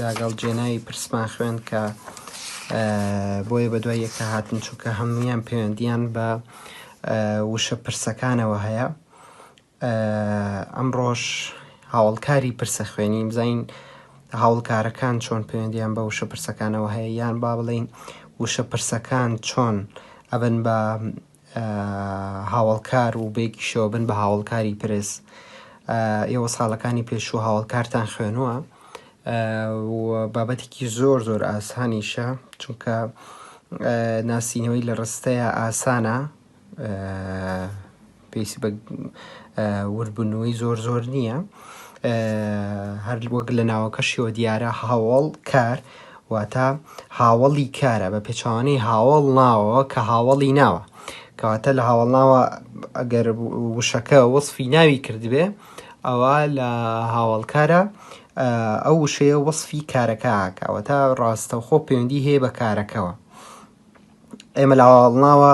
لاگەڵ جێنای پرسمان خوێند کە بۆیە بە دوای یەکتا هاتن چونکە هەمویان پەیوەندیان بە وشە پرسەکانەوە هەیە ئەمڕۆش هاوڵکاری پرسە خوێنی بزین هاوڵکارەکان چۆن پەیوەندیان بە وشە پرسەکانەوە هەیە یان با بڵین وشە پرسەکان چۆن ئەبن بە هاوەڵکار و بێگیشەوە بن بە هاوەڵکاری پرس ئێوە ساڵەکانی پێشوو هاوەڵکارتان خوێنووە بابەتێکی زۆر زۆر ئاسانیشە چونکە ناسینەوەی لە ڕستەیە ئاسانە پێویستی بە وردبوونەوەی زۆر زۆر نییە هەر وەک لە ناوەکەشیەوە دیارە هاوڵ کار واتە هاوەڵی کارە بە پێچوانەی هاوەڵ ناوەوە کە هاوەڵی ناوە کەواتە لە هاوەڵ ناوە ئەگەر وشەکە وەصفی ناوی کردبێ ئەوە لە هاوەڵکارە ئەو وشەیە وەصفی کارەکەکەوە تا ڕاستەوخۆ پەیوەندی هەیە بە کارەکەەوە ئێمە لە هاوەڵناوە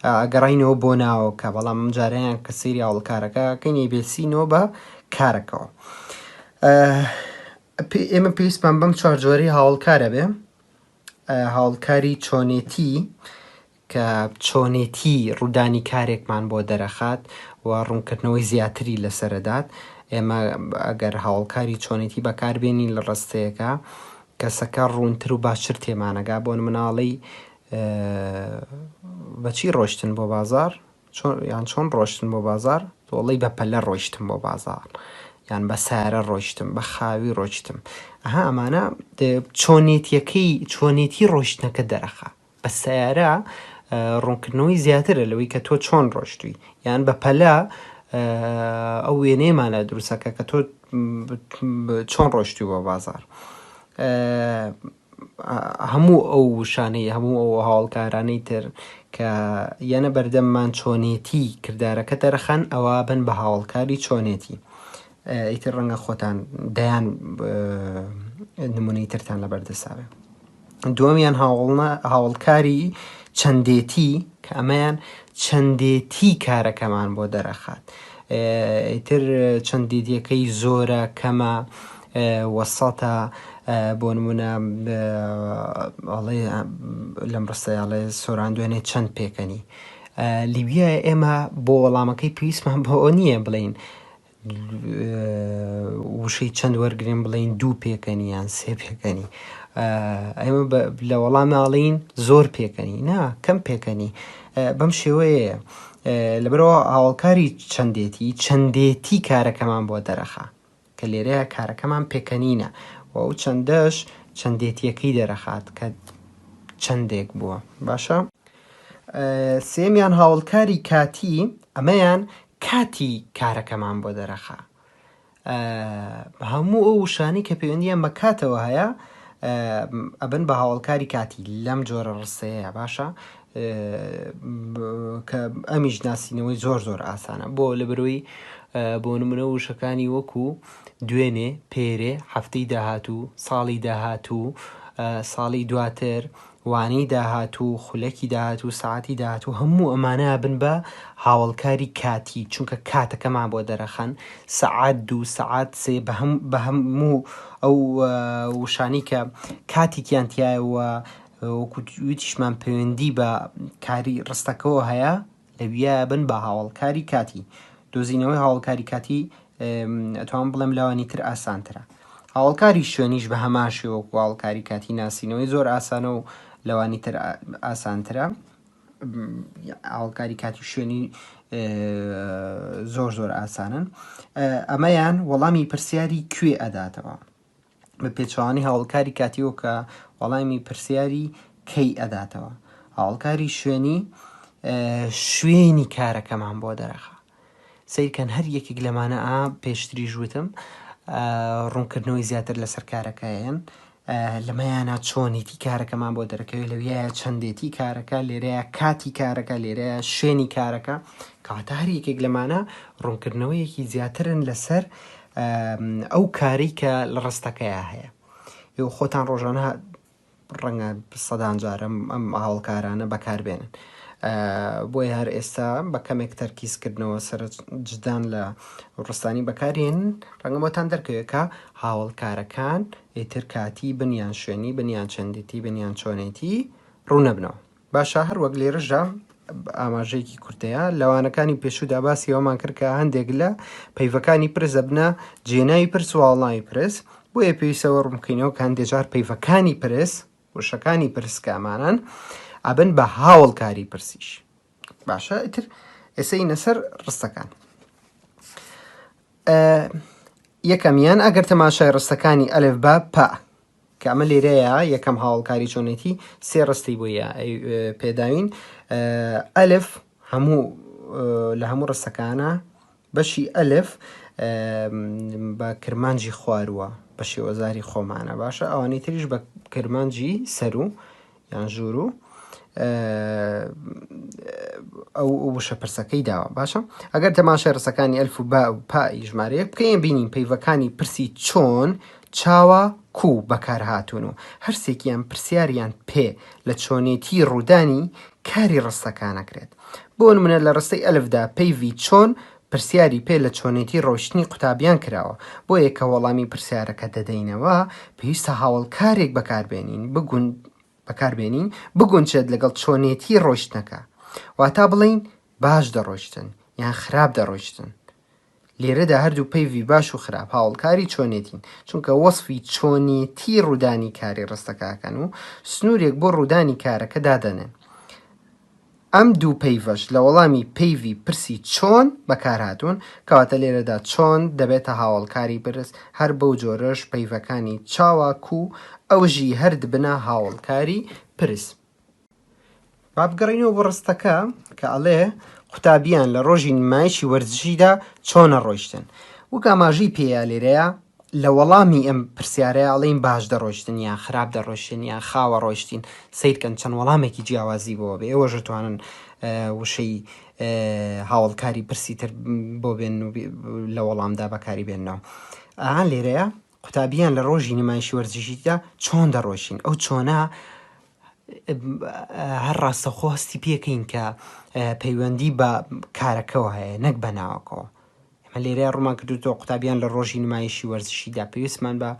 ئەگەڕینەوە بۆ ناوەکە بەڵام جاریان کە سری هاوڵکارەکە کەنی بێسینەوە بە کارەکەەوە پێ ئێمە پێویستمان بەم چوار جۆری هاوڵکارە بێ هاوڵکاری چۆنێتی کە چۆنێتی ڕوودانی کارێکمان بۆ دەرەخات و ڕوونکردنەوەی زیاتری لەسەرەدات ئێمە ئەگەر هاوڵکاری چۆنێتی بەکاربێنین لە ڕستەیەەکە کەسەکە ڕوونتر و باشتر تێمانەگا بۆن مناڵی بەچی ڕۆشتن بۆ بازار چۆن یان چۆن ڕۆشتن بۆ بازار؟ تۆڵەی بە پەلە ڕۆیشتم بۆ بازاڕ یان بە سارە ڕۆیشتم بە خاوی ڕۆیشتم ئەها ئەمانە چۆنێتیەکەی چۆنێتی ڕۆشتنەکە دەرەخە بە سیارە ڕوونکردنەوەی زیاترە لەوەی کە تۆ چۆن ڕۆشتوی یان بە پەلە ئەو وێنەیەمانە دروستەکە کە تۆ چۆن ڕۆشتوی بۆ بازار هەموو ئەو وشانەی هەموو ئەو هاوەڵکارانەی تر کە یەنە بەردەممان چۆنێتی کردارەکە دەرەخەن ئەوا بن بە هاوەڵکاری چۆنێتی ئیتر ڕەنگە خۆتان دەیان نمونەی ترتان لە بەردەساوێ دووەمیان هاوڵە هاوڵکاری چەندێتی کە ئەمەیان چەندێتی کارەکەمان بۆ دەرەخات ئیتر چەندێتیەکەی زۆرە کەمە وەسەتە بۆ نمونە ئەڵێ لەم ڕستەی ئەڵێ سۆران دوێنێ چەند پێکەنی لیبیا ئێمە بۆ وەڵامەکەی پێویستمان بۆ ئەو نییە بڵین وشەی چەند وەرگین بڵین دوو پێکەنی یان سێ پێکەنی ئێمە لە وەڵام ناڵین زۆر پێکەنی نا کەم پێکەنی بەم شێوەیە لەبەرەوە هاوڵکاری چەندێتی چەندێتی کارەکەمان بۆ دەرەخە کە لێرەیا کارەکەمان پێکەنینە و ئەو چەندەش چەندێتییەکەی دەرەخات کە چەندێک بووە. باشە؟ سێمیان هاوڵکاری کاتی، ئەمەیان کاتی کارەکەمان بۆ دەرەخا. هەموو ئەو وشانی کە پەیوەندیان بە کاتەوە هەیە ئەبن بە هاوڵکاری کاتی لەم جۆرە ڕستەیە باشە کە ئەمیش ناسینەوەی زۆر زۆر ئاسانە بۆ لە بەرۆی بۆ نمونە وشەکانی وەکو دوێنێ پێرێ هەفتەی داهاتوو ساڵی داهاتوو ساڵی دواتر وانەی داهاتوو خولەکی داهاتوو ساعتی داهاتوو هەموو ئەمانە بن بە هاوڵکاری کاتی چونکە کاتەکەمان بۆ دەرەخەن سەعات دوو سەعات سێ بە هەموو ئەو وشانی کە کاتیکیان تایەوە وەکو وتیشمان پەیوەندی بە کاری ڕستەکەەوە هەیە لەویە بن بە هاوڵکاری کاتی دۆزینەوەی هاوڵکاری کاتی ئەتوان بڵێم لەوانی تر ئاسانترە هاوڵکاری شوێنیش بە هەمان شێوەک واڵکاری کاتی ناسینەوەی زۆر ئاسانە و لەوانی تر ئاسانترە ئاڵکاری کاتی شوێنی زۆر زۆر ئاسانن ئەمەیان وەڵامی پرسیاری کوێ ئەداتەوە بە پێچەوانەی هاوڵکاری کاتیەوە کە وەڵامی پرسیاری کەی ئەداتەوە هاوڵکاری شوێنی شوێنی کارەکەمان بۆ دەرەخە سیرکەن هەر یەکێک لەمانە ئا پێشتری ژوتم ڕوونکردنەوەی زیاتر لەسەر کارەکەیان لەمەیانە چۆنیتی کارەکەمان بۆ دەرەکەوێت لەویە چەندێتی کارەکە لێرەیە کاتی کارەکە لێرەیە شوێنی کارەکە کاتە هەر یەکێک لەمانە ڕوونکردنەوەیەکی زیاترن لەسەر ئەو کارەی کە لە ڕستەکەیا هەیە ئێوە خۆتان ڕۆژانە ڕەنگە سەدان جار ئەم ئەم هاوڵکارانە بەکاربێنن بۆی هەر ئێستا بە کەمێک تەرکیزکردنەوە سەر جدان لە ڕستانی بەکارێن ڕەنگە بۆتان دەرکەوێکە هاوڵکارەکان ئیتر کاتی بنیان شوێنی بنیان چەندێتی بنیان چۆنێتی ڕوونەبنەوە باشە هەر وەک لێرەشدا ئاماژەیەکی کورتەیە لە وانەکانی پێشوودا باسی ئەومان کرد کە هەندێک لە پەیڤەکانی پرس دەبنە جێناوی پرس و هەڵناوی پرس بۆیە پێویستەوە ڕوون بکەینەوە کە هەندێک جار پەیڤەکانی پرس وشەکانی پرس کە ئەمانەن ئەبن بە هاوڵکاری پرسیش باشە ئیتر ئێسە ئینە سەر ڕستەکان یەکەمیان ئەگەر تەماشای ڕستەکانی ئەلف بە پا کە ئەمە لێرەیا یەکەم هاوەڵکاری چۆنێتی سێ ڕستی بۆ پێداوین ئەلف هەموو لە هەموو ڕستەکانە بەشی ئەلف بە کرمانجی خوارووە بە شێوەزاری خۆمانە باشە ئەوانەی تریش بە کرمانجی سەرو یان ژوورو ئەو وشە پرسەکەی داوە باشە ئەگەر تەماشای ڕسەکانی ئەلف و با و پا ژمارەیەک بکەین بینین پەیڤەکانی پرسی چۆن چاوە کو بەکارهاتون و هەرسێکیان پرسیاریان پێ لە چۆنێتی ڕوودانی کاری ڕستەکانەکرێت بۆ منە لە ڕستەی ئەلفدا پەیڤی چۆن پرسیاری پێ لە چۆنێتی ڕۆیشتنی قوتابیان کراوە، بۆیە کە وەڵامی پرسیارەکە دەدەینەوە، پێویستە هاوەڵکارێک بەکاربێنین بگون بەکاربێنین بگونچێت لەگەڵ چۆنێتی ڕۆیشتنەکە. واتا بڵێین باش دەڕۆیشتن یان خراپ دەڕۆیشتن. لێرەدا هەردوو پەیڤی باش و خراپ هاوەڵکاری چۆنێتین، چونکە وەسفی چۆنێتی ڕوودانی کاری ڕستەکە ئەکەن و سنوورێک بۆ ڕوودانی کارەکە دادەنێن. ئەم دوو پەیڤەش لە وەڵامی پەیڤی پرسی چۆن بەکارهاتوون، کەواتە لێرەدا چۆن دەبێتە هاوەڵکاری پرس، هەر بەو جۆرەش پەیڤەکانی چاوا کو ئەوژی هەر دبنە هاوەڵکاری پرس. با بگەڕێینەوە بۆ ڕستەکە کە ئەڵێ قوتابیان لە ڕۆژی نمایشی وەرزشیدا چۆنە ڕۆیشتن؟ وەک ئاماژەی پێیە لێرەیا لە وەڵامی ئەم پرسیارەیا ئەڵێین باش دەڕۆیشتن یان خراپ دەڕۆیشتن یان خاوە ڕۆیشتین، سەیرکەن چەند وەڵامێکی جیاوازی بۆوە بێ، ئێوەش ئەتوانن وشەی هاوەڵکاری پرسی تر بۆ بێنن و لە وەڵامدا بەکاری بێننەوە. ئا لێرەیا قوتابیان لە ڕۆژی نمایشی وەرزشیدا چۆن دەڕۆیشین؟ ئەو چۆنە هەر ڕاستەوخۆ هەستی پێکەین کە پەیوەندی بە کارەکەوە هەیە نەک بە ناوەکەوە. ئێمە لێرە ڕوومان کردوتەوە قوتابیان لە ڕۆژی نمایشی وەرزشیدا پێویستمان بە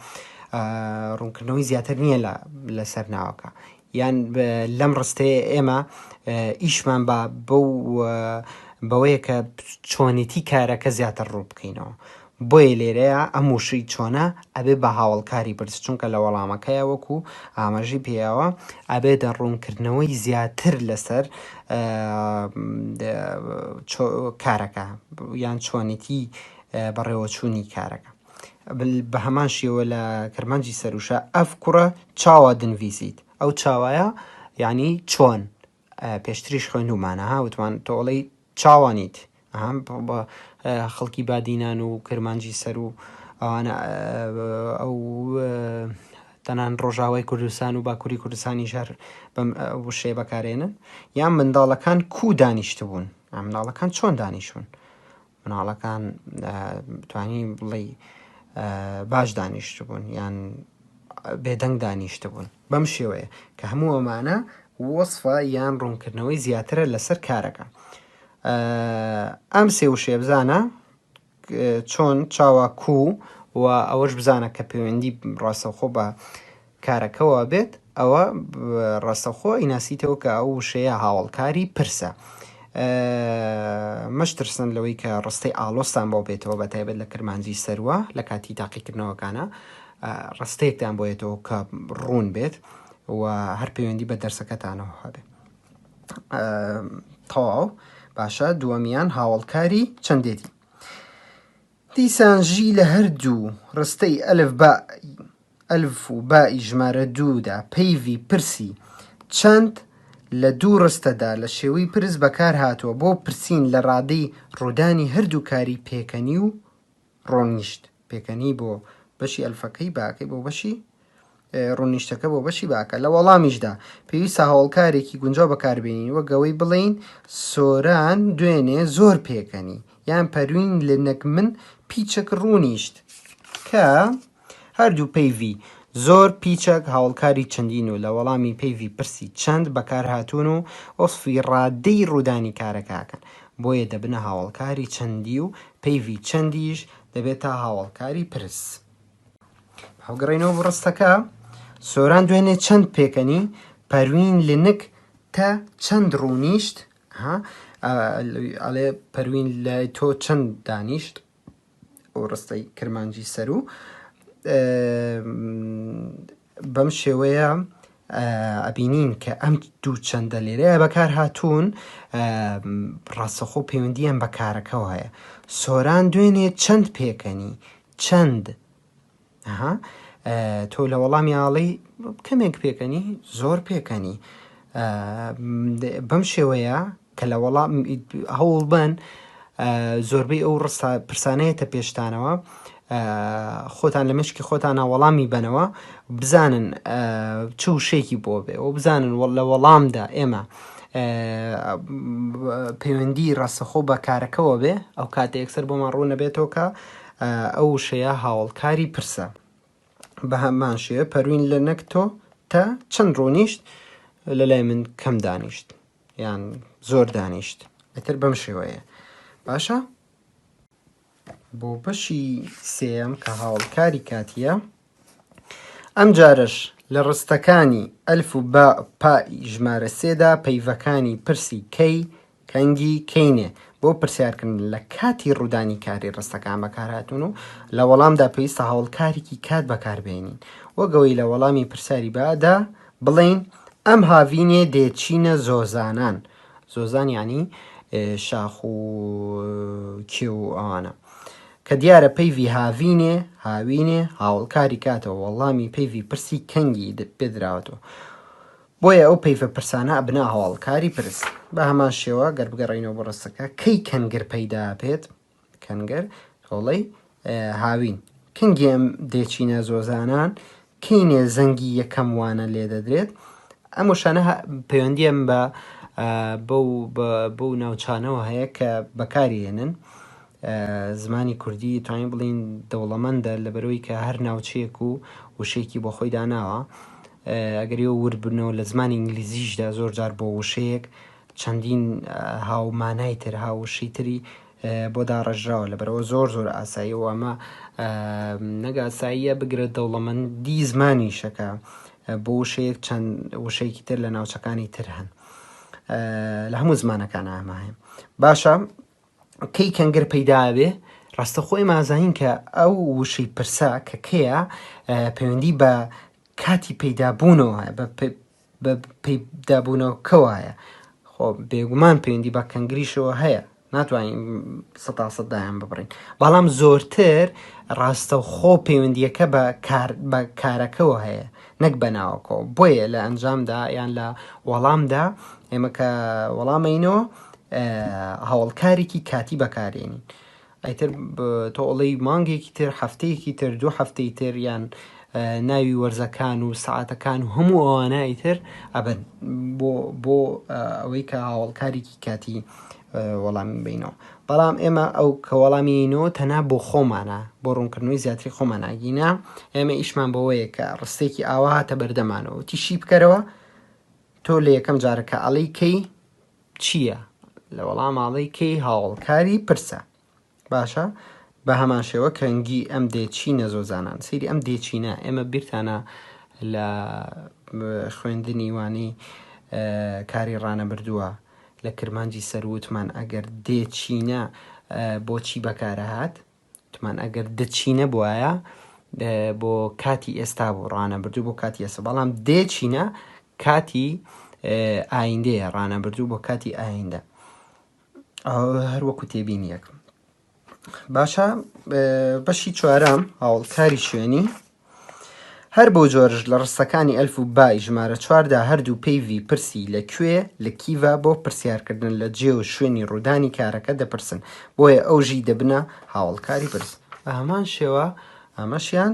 ڕوونکردنەوەی زیاتر نییە لە لەسەر ناوەکە یان لەم ڕستەیە ئێمە ئیشمان بە بەو بەوەیە کە چۆنێتی کارەکە زیاتر ڕوو بکەینەوە بۆیە لێرەیە ئەم وشەی چۆنە ئەبێ بە هاوەڵکاری بەرز چونکە لە وەڵامەکەیا وەکو ئاماژەی پێیاوە ئەبێتە ڕوونکردنەوەی زیاتر لەسەر کارەکە یان چۆنێتی بەڕێوەچوونی کارەکە بە هەمان شێوە لە کرمانجی سەروشە ئەف کوڕە چاوا دنویسیت ئەو چاوایە یعنی چۆن پێشتریش خوێنومانە هاوتمان تۆڵی چاوانیت ئەها بە خەڵکی بادینان و کرمانجی سەر و ئەوانە ئەو تەنان ڕۆژاوای کوردستان و باکووری کوردستانی ژەر بەم وشێ بەکارێنن یان منداڵەکان کو دانیشتبوون ئەمناڵەکان چۆن دانیشون مناڵەکان توانی بڵی باش دانیشتبوون یان بێدەنگ دانیشتبوون بەم شێوەیە کە هەموو ئەمانە وەسفە یان ڕوونکردنەوەی زیاترە لەسەر کارەکە ئەم سێ وشێ بزانە چۆن چاوا کو و ئەوەش بزانە کە پەیوەندی ڕاستەخۆ بە کارەکەەوە بێت ئەوە ڕاستەخۆ ئیناسیتەوە کە ئەو وشەیە هاوڵکاری پرسە مەشترسن لەوەی کە ڕستەی ئالۆستان بۆ بێتەوە بە تایبەت لە کرمانجی سەروە لە کاتی تاقیکردنەوەکانە ڕستەیەکتان بۆ یەتەوە کە ڕوون بێت و هەر پەیوەندی بە دەرسەکەتانەوە هەبێت تەواو باشە دووەمیان هاوڵکاری چەندێتی دیسان ژی لە هەردوو ڕستەی ئەلف بە ئەلف و بائی ژمارە دوودا پەیڤی پرسی چەند لە دوو ڕستەدا لە شێوەی پرس بەکار هاتووە بۆ پرسین لە ڕادەی ڕوودانی هەردوو کاری پێکەنی و ڕۆنیشت، پێکەنی بۆ بەشی ئەلفەکەی باکەی بۆ بەشی ڕوونیشتەکە بۆ بەشی باکە لە وەڵامیشدا پێویستە هەوڵکارێکی گونجاو بەکاربێنین وە گەوەی بڵین سۆران دوێنێ زۆر پێکەنی یان پەروین لە نەک من پیچەک ڕوونیشت کە هەردوو پەیڤی زۆر پیچەک هاوڵکاری چەندین و لە وەڵامی پەیڤی پرسی چەند بەکارهاتوون و وەسفی ڕادەی ڕوودانی کارەکە ئەکەن بۆیە دەبنە هاوڵکاری چەندی و پەیڤی چەندیش دەبێتە هاوڵکاری پرس. هەڵگەڕێینەوە بۆ ڕستەکە سۆران دوێنێ چەند پێکەنی پەروین لنک تە چەند ڕوونیشت ئەڵێ پەروین لای تۆ چەند دانیشت ڕستەی کرمانجی سەروو بەم شێوەیە ئەبینین کە ئەم دوو چەندە لێرەیە بەکار هاتوون ڕاستەخۆ پەیوەندیان بە کارەکەەوە هەیە سۆران دوێنێ چەند پێکەنی چەند ئەها تۆ لە وەڵامی ئاڵی کەمێک پێکەنی زۆر پێکەنی بەم شێوەیە کە لە وەڵام هەوڵ بن زۆربەی ئەو ڕستا پرسانەیەتە پێشتانەوە خۆتان لە مشکی خۆتانە وەڵامی بنەوە بزانن چ وشێکی بۆ بێ و بزانن لە وەڵامدا ئێمە پەیوەندی ڕاستەخۆ بە کارەکەەوە بێ ئەو کاتە یەکسەر بۆمان ڕوونەبێتەوە کە ئەو وشەیە هاوەڵکاری پرسە. بە هەمان شێوە پەروین لە نەک تۆ تە چەند ڕوونیشت لە لای من کەم دانیشت یان زۆر دانیشت ئەتر بەم شێوەیە باشە بۆ بەشی سێم کە هاوڵکاری کاتیە ئەمجارەش لە ڕستەکانی ئەلف و باء و پاء ی ژمارە سێ دا پەیڤەکانی پرسی کەی، کەنگی، کەینێ بۆ پرسیارکردن لە کاتی ڕوودانی کاری ڕستەکان بەکارهاتوون و لە وەڵامدا پێویستە هەوڵکارێکی کات بەکاربهێنین وەک ئەوەی لە وەڵامی پرسیاری باء دا بڵێین ئەم هاڤینێ دێ چینە زۆزانان زۆزان یانی شاخ و کێو و ئەوانە کە دیارە پەیڤی هاڤینێ، هاوینێ، هاوەڵکاری کاتەوە وەڵامی پەیڤی پرسی کەنگی پێ دراوەتەوە. بۆیە ئەو پەیڤە پرسانە ئەبنە هاوەڵکاری پرس. بە هەمان شێوە گەر بگەڕێینەوە بۆ ڕستەکە، کەی کەنگر پەیدا بێت، کەنگر، تۆڵەی، هاوین. کەنگی ئەم دێچینە زۆزانان کینێ زەنگی یەکەم وانە لێدەدرێت؟ ئەم وشانە پەیوەندیان بە بەو بەو ناوچانەوە هەیە کە بەکاری هێنن زمانی کوردی توانین بڵین دەوڵەمەندە لە بەرەوەی کە هەر ناوچەیەک و وشەیەکی بۆ خۆی داناوە ئەگەری و وردبنەوە لە زمانی ئینگلیزیشدا زۆر جار بۆ وشەیەک چەندین هاومانای تر هاوشی تری بۆ داڕێژراوە لەبەرئەوە زۆر زۆر ئاساییە و ئەمە نەک ئاساییە بگرە دەوڵەمەندی زمانیشە کە بۆ وشەیەک چەند وشەیەکی تر لە ناوچەکانی تر هەن لە هەموو زمانەکان ئامە هەیە باشە کەی کەنگەر پەیداوێ ڕاستە خۆی مازانین کە ئەو وشەی پرسا کە کەیە پەیوەندی بە کاتی پەیدابوونەوە بە بە پەیدابوونەوەکە وایە خۆ بێگومان پەیوەندی بە کەنگریشەوە هەیە ناتوانین سەتا سەد دایان ببڕین بەڵام زۆرتر ڕاستە و خۆ پەیوەندیەکە بە بە کارەکەەوە هەیە نەک بەناوەکەەوە بۆیە لە ئەنجامدا یان لە وەڵامدا ئێمە کە وەڵامەینەوە هەوڵکارێکی کاتی بەکارێنین ئیتر تۆ ئەڵێی مانگێکی تر، هەفتەیەکی تر، دوو هەفتەی تر یان ناوی وەرزەکان و سەعاتەکان و هەموو ئەوانە ئیتر ئەبن بۆ بۆ ئەوەی کە هاوڵکارێکی کاتی وەڵامی بینەوە بەڵام ئێمە ئەو کە وەڵامینەوە تەنا بۆ خۆمانە بۆ ڕوونکردنەوەی زیاتری خۆمانناگینا ئێمە ئیشمان بەوەیە کە ڕستێکی ئاوا هاتە بەردەمانەوە تیشی بکەرەوە تۆ لە یەکەم جارەکە ئەڵی کەی چییە؟ لە وەڵام ئاڵێی کەی هاوەڵکاری پرسە. باشە بە هەمان شێوە کەنگی ئەم دێچینە زۆزانان سیری ئەم دێچینە ئێمە بیرتانە لە خوێندنی وانی کاری ڕانە بردووە لە کرمانجی سەروتمان ئەگەر دێچینە بۆچی بەکارەهات وتمان ئەگەر دە چی نەبوایە بۆ کاتی ئێستا بوو ڕانەبردوو بۆ کاتی ئێستا بەڵام دێ چینە کاتی ئایندەیە ڕانەبردوو بۆ کاتی ئایندە هەروەکو تێبینیەکم باشە بەشی چوارم هاوڵکاری شوێنی هەر بەو جۆرەش لە ڕستەکانی ئەلف و بای ژمارە چواردا هەردوو پەیڤی پرسی لە کوێ لە کیڤا بۆ پرسیارکردن لە جێ و شوێنی ڕوودانی کارەکە دەپرسن، بۆیە ئەو ژی دەبنە هاوەڵکاری پرس. بە هەمان شێوە ئەمەشیان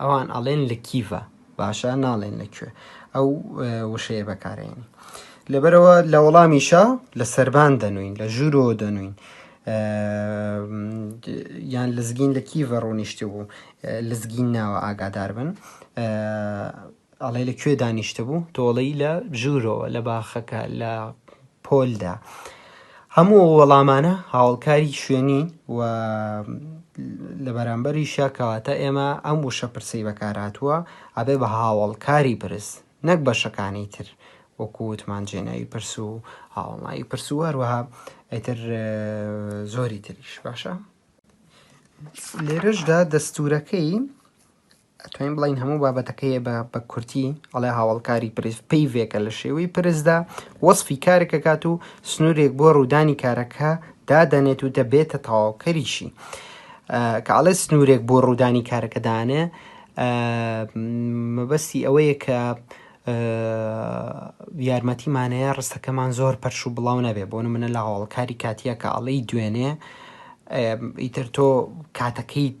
ئەوان ئەڵێن لە کیڤە باشە ناڵێن لە کوێ ئەو وشەیە بەکارێنی لەبەرەوە لە وەڵامیشە لە سربان دەنوین لە ژوورۆ دەنوین یان لەزگین لە کیڤە ڕوونیشتی بوو لەزگین ناوە ئاگادار بن ئەڵێ لە کوێ دانیشتبوو؟ تۆ ئەڵێی لە ژوورەوە، لە باخەکە، لە پۆلدا. هەموو ئەو وەڵامانە هاوڵکاری شوێنی و لە بەرامبەریشە کەواتە ئێمە ئەم وشە پرسەی بەکارهاتووە ئەبێ بە هاوڵکاری پرس نەک بەشەکانی تر وەکووتمان جێناوی پرس و هاوڵناوی پرس و هەروەها ئەتر زۆری تریش باشە لێرەشدا دەستورەکەی ئەتوانین بڵێین هەموو بابەتەکەی بە بە کورتی ئەڵێ هاوڵکاری پرس پەیڤێکە لە شێوەی پرسدا وەصفی کارێک دەکات و سنوورێک بۆ ڕوودانی کارەکە دادەنێت و دەبێتە تەواوکەریشی کە ئەڵێ سنوورێک بۆ ڕوودانی کارەکە دانێ مەبەستی ئەوەیە کە یارمەتیمانەیە ڕستەکەمان زۆر پەرش و بڵاو نەبێ بۆ منە لە هاوڵکاری کاتیە کە ئەڵی دوێنێ ئیتر تۆ کاتەکەیت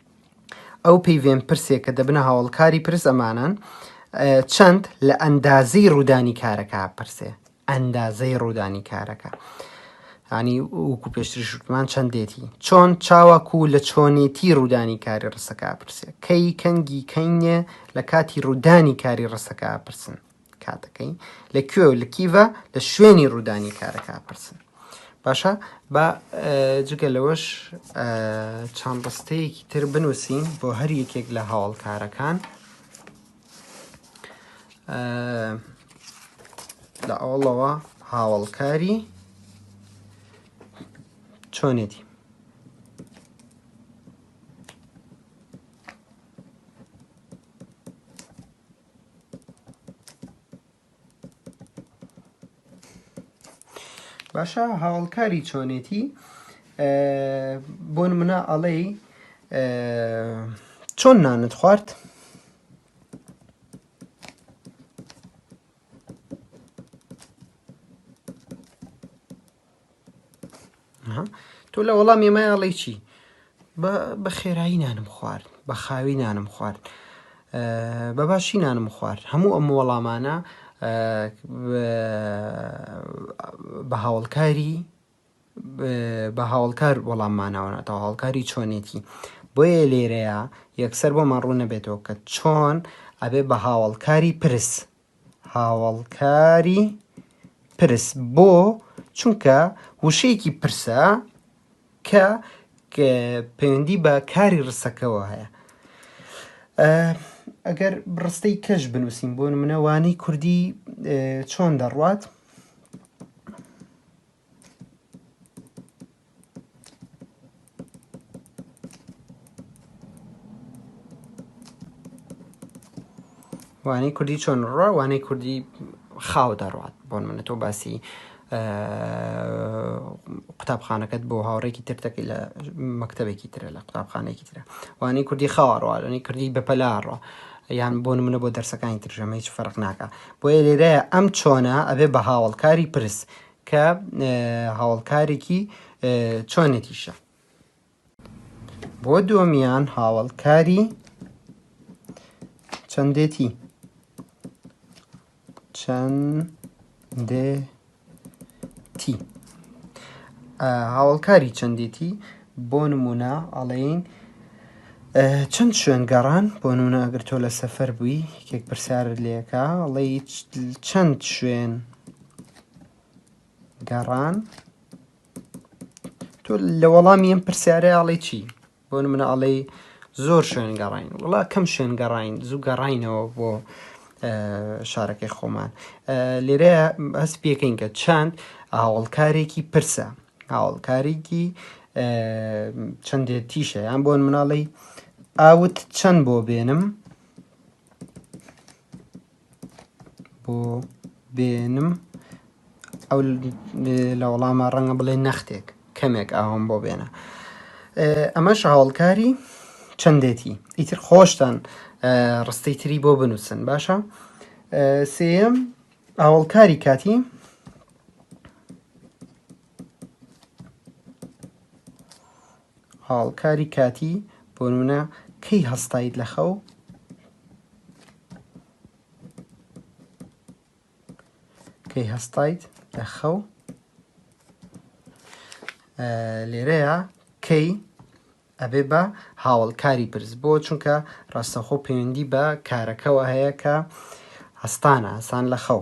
ئەو پەیڤێن پرسێ کە دەبنە هاوڵکاری پرس ئەمانەن چەند لە ئەندازی ڕوودانی کارەکە پرسێ ئەندازەی ڕوودانی کارەکە ینی وکو پێشتری شوتمان چەندێتی چۆن چاوەکو لە چۆنێتی ڕوودانی کاری ڕسەکە پرسێ کەی کەنگی کەینێ لە کاتی ڕوودانی کاری ڕسەکە پرسن کاتەکەی لە کوێ و لە کیڤە لە شوێنی ڕوودانی کارەکە پرسن باشە با جگە لەوەش چەند ڕستەیەکی تر بنووسین بۆ هەر یەکێک لە هاوڵکارەکان لە ئەوڵەوە هاوڵکاری چۆنێتی باشە هاوڵکاری چۆنێتی بۆن منە ئەڵێ چۆن نانت خوارد تۆ لە وەڵام ئێمە ئەڵێی چی بە خێرایی نانم خوارد بە خاوی نانم خوارد بە باشی نانم خوارد هەموو ئەم وەڵامانە بە هاوڵکاری بە هاوڵکار وەڵاممانەوەناتەوە هاوڵکاری چۆنێتی بۆیە لێرەیە یەکسەر بۆمان ڕوو نەبێتەوە کە چۆن ئەبێ بە هاوڵکاری پرس هاوەڵکاری پرس بۆ چونکە وشەیەکی پرسە کە پەیوەندی بە کاری ڕستەکەەوە هەیە ئەگەر ڕستەی کەش بنووسین بۆ منەوانی کوردی چۆن دەڕوات وانەی کوردی چۆن ڕوا وانەی کوردی خاو دەڕات بۆن منە تۆ باسی قوتابخانەکەت بۆ هاوڕێکی ترتەکەی لە مەکتتەبێکی ترە لە قوتابخانێکی ترە وانەی کوردی خاوەڕوانەی کردی بەپەلاڕۆ یان بۆن منە بۆ دەرسەکانی ترژەمە هیچ فەرق ناکە بۆیە لێرە ئەم چۆنە ئەبێ بە هاوڵکاری پرس کە هاوەڵکارێکی چۆنێتیشە بۆ دۆمیان هاوەڵکاری چەندێتی چەندێتی هاوڵکاری چەندێتی بۆ نمونە ئەڵین چەند شوێن گەڕان بۆ نونە ئەگەر تۆ لە سەفەر بووی یەکێک پرسیار لێکە ئەڵی چەند شوێن گەڕان تۆ لە وەڵامی ئەم پرسیارە ئاڵێ چی بۆ منە ئاڵێ زۆر شوێن گەڕین وڵا کەم شوێن گەڕین زوو گەڕینەوە بۆ شارەکەی خۆمان لێرە هەست پێکەین کە چەند ئاوڵکارێکی پرسە ئاوڵکارێکی چەندێت تیشە یان بۆن مناڵی ئاوت چەند بۆ بێنم بۆ بێنم ئەو لە وەڵامە ڕەنگە بڵێ نەختێک کەمێک ئاوم بۆ بێنە ئەمەش هاوڵکاری چەندێتی ئیتر خۆشتان ڕستەی تری بۆ بنووسن باشە سێم ئاوڵکاری کاتی هاڵکاری کاتی، بۆنمونە کەی هەستایت لە خەو؟ کەی هەستایت لە خەو؟ لێرەیە کەی ئەبێ بە هاوڵکاری پرس بۆ چونکە ڕاستەخۆ پەیوەندی بە کارەکەەوە هەیە کە هەستانە هەسان لە خەو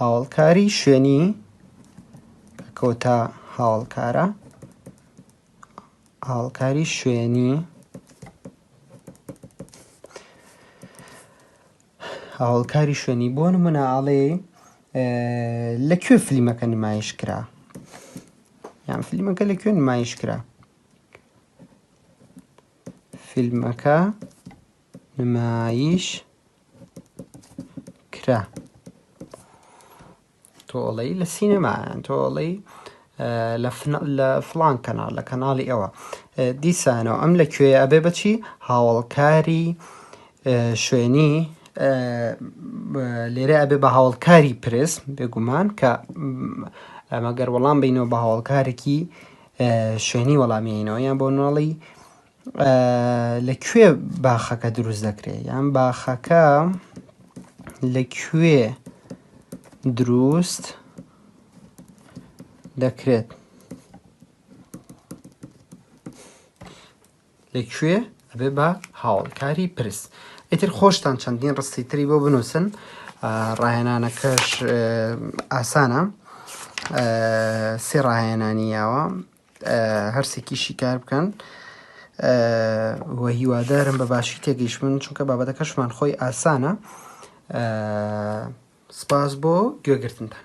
هاوڵکاری شوێنی کۆتا هاوڵکارە هاوڵکاری شوێنی هاوڵکاری شوێنی بۆ نمونە ئاڵێ لە کوێ فلیمەکە نمایش کرا یان فلیمەکە لە کوێ نمایش کرا فیلمەکە نمایش کرا تۆڵەی لە سینەمایان تۆڵەی لە فلان کەناڵ لە کەناڵی ئەوە دیسانەوە ئەم لە کوێ ئەبێ بچی هاوڵکاری شوێنی لێرە ئەبێ بە هاوڵکاری پرس بێگومان کە ئەمەگەر وەڵام بینەوە بە هاوڵکارێکی شوێنی وەڵامینەوە یان بۆ ناڵی لە کوێ باخەکە دروست دەکرێت یان باخەکە لە کوێ دروست دەکرێت لە کوێ ئەبێ بە هاوڵکاری پرس ئیتر خۆشتان چەندین ڕستی تری بۆ بنووسن ڕاهێنانەکەش ئاسانە سێ ڕاهێنانیەوە هەرسێکی شیکار بکەن و هیوادارم بە باشی تێگەیشتبن چونکە بابەتەکەشمان خۆی ئاسانە سپاس بۆ گوێگرتنتان